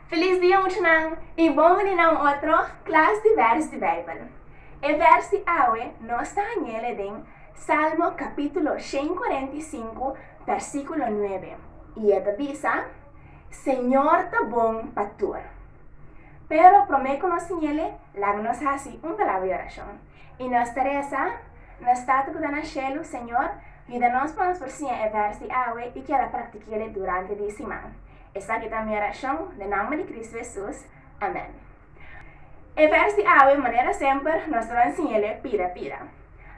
Feliz dia muchanan y bon veni na un otro Klas di Vèrs di Beibel. E vèrs di awe nos ta hañ'e den Salmo kapítulo shen kuarenta i sinku vèrsíkulo nuebe y e ta bisa, Señor ta bon pa tur. Pero promé ku nos siñ'e laga nos hasi un palabra di orashon. I nos ta resa, Nos Tata ku ta na shelu, Señor, yuda nos pa nos por siña e vèrs di awe i keda praktiki'e durante di e siman. Esaki ta mi orashon, den nomber di Kristu Hesus, amèn. E vèrs di awe, manera semper, nos ta ban siña'e pida pida.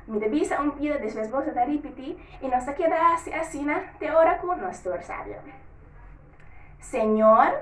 Mi ta bisa un pida, despues boso ta ripití, i nos ta keda hasi asina te ora ku nos tur sabia. Señor.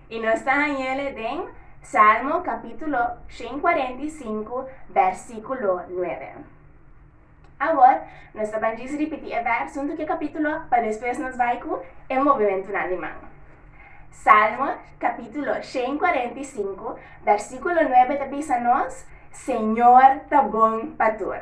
I nos ta hañ'ele den Salmo capítulo shen cuarenta i sinku, versículo nuebe. Awor, nos ta ban djis ripití e vèrs huntu ku e capítulo pa despues nos bai ku e movimentunan di man. Salmo capítulo shen cuarenta i sinku, versículo nuebe ta bisa nos, Señor ta bon pa tur.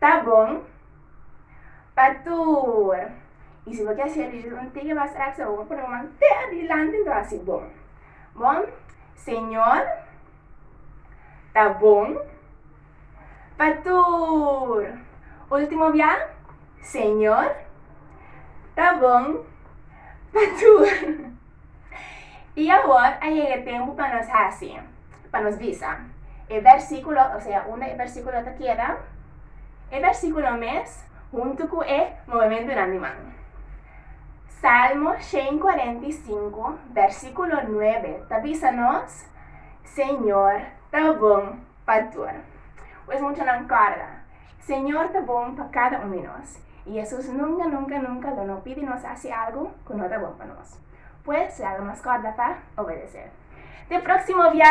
Ta bon pa tur. Y si bo kier hacer ejercicio un tikje mas rápido bo por pone bo man te adelante enton así bon. Bon, Señor, ta bon pa tur. Último bia, Señor, ta bon pa tur. I awor a yega e tempu pa nos hasi, pa nos bisa e versíkulo, osea unda e versíkulo ta keda, e versíkulo mes huntu ku e movementunan di man. Salmo shen kuarenta i sinku, versíkulo nuebe ta bisa nos, Señor ta bon pa tur. Pues muchanan kòrda. Señor ta bon pa kada un di nos, i Jesus nunka, nunka, nunka lo no pidi nos hasi algu ku no ta bon pa nos. Pues, laga nos kòrda pa obedes'é. Te próksimo bia!